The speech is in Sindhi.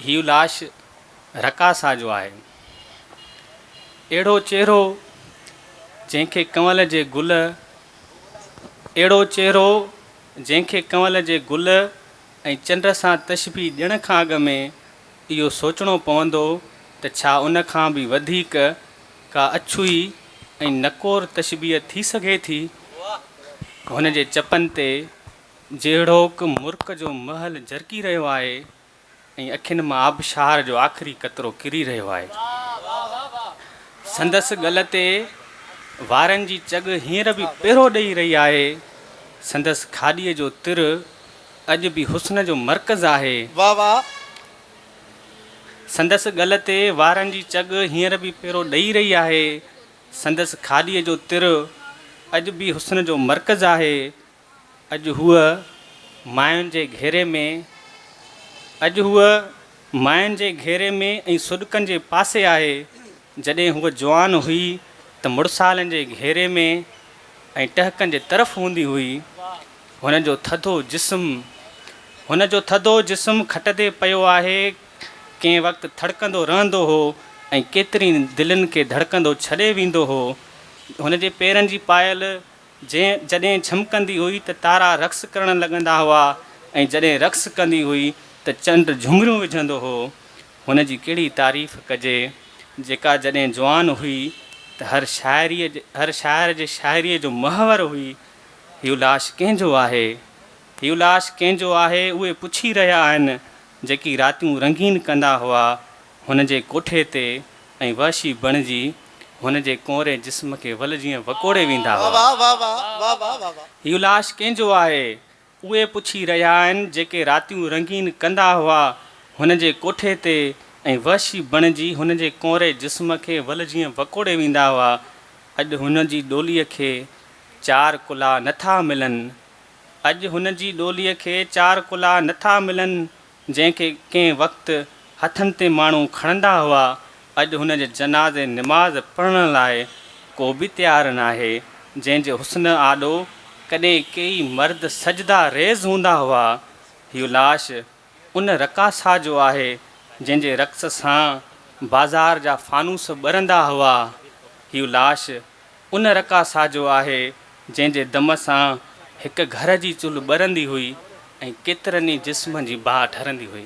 هيء لاش رقاصه جو آهي. اهڙو چهرو جنهن کي ڪنول جي گل اهڙو چهرو جنهن کي ڪنول جي گل ۽ چنڊ سان تشبيهه ڏيڻ کان اڳ ۾ اهو سوچڻو پوندو ته ڇا ان کان به وڌيڪ ڪا اڇوئي ۽ نڪور تشبيهه ٿي سگهي ٿي؟ هن جي چپن تي جهڙوڪ مرڪ جو مهل جرڪي رهيو آهي ۽ اکين مان آبشار جو آخري قطرو ڪري رهيو آهي. سندس ڳل تي وارن جي چڳ هينئر به پيرو ڏئي رهي آهي. سندس کاڏيء جو تر اڄ به حسن جو مرڪز آهي. واهه واهه. سندس ڳل تي وارن جي چڳ هينئر به پيرو ڏئي رهي آهي. سندس کاڏيء جو تر اڄ به حسن جو مرڪز آهي. اڄ هوء ماين جي گهيري ۾، اڄ هوء ماين جي گهيري ۾ ۽ سڏڪن جي پاسي آهي، جڏهن هوء جوان هئي ته مڙسالن جي گهيري ۾ ۽ ٽهڪن جي طرف هوندي هئي. هن جو ٿڌو جسم، هن جو ٿڌو جسم کٽ تي پيو آهي، ڪنهن وقت ٿڙڪندو رهندو هو ۽ ڪيترين دلين کي ڌڙڪندو ڇڏي ويندو هو. هن جي پيرن جي پايل جنهن جڏهن جهمڪندي هئي ته تارا رقص ڪرڻ لڳندا هئا ۽ جڏهن رقص ڪندي هئي ته چنڊ جهمريون وجهندو هو. هن جي ڪهڙي تعريف ڪجي، جيڪا جڏهن جوان هئي ته هر شاعري هر شاعر جي شاعريء جو محور هئي. هيء لاش ڪنهن جو آهي؟ هيء لاش ڪنهن جو آهي؟ اهي پڇي رهيا آهن، جيڪي راتيون رنگين ڪندا هئا. هن جي ڪوٺي تي ۽ وحشي بڻجي هن جي ڪؤنري جسم کي ول جيئن وڪوڙي ويندا هئا. هيء لاش ڪنهن جو آهي؟ اهي پڇي رهيا آهن، جيڪي راتيون رنگين ڪندا هئا، هن جي ڪوٺي تي ۽ وحشي بڻجي هن جي ڪؤنري جسم کي ول جيئن وڪوڙي ويندا هئا. اڄ هن جي ڏوليء کي چار ڪلها نٿا ملن. اڄ هن جي ڏوليء کي چار ڪلها نٿا ملن. جنهن کي ڪنهن وقت هٿن تي ماڻهو کڻندا هئا، اڄ هن جي جنازي نماز پڙهڻ لاء ڪو به تيار ناهي، جنهن جي حسن آڏو ڪڏهن ڪيئي مرد سجده ريز هوندا هئا، هيء لاش ان رقاصه جو آهي، جنهن جي رقص سان بازار جا فانوس ٻرندا هئا، هيء لاش ان رڪا ساجو آهي، جنهن جي دم سان هڪ گهر جي چلهه ٻرندي هئي ۽ ڪيترن ئي جسمن جي باهه ٺرندي هئي.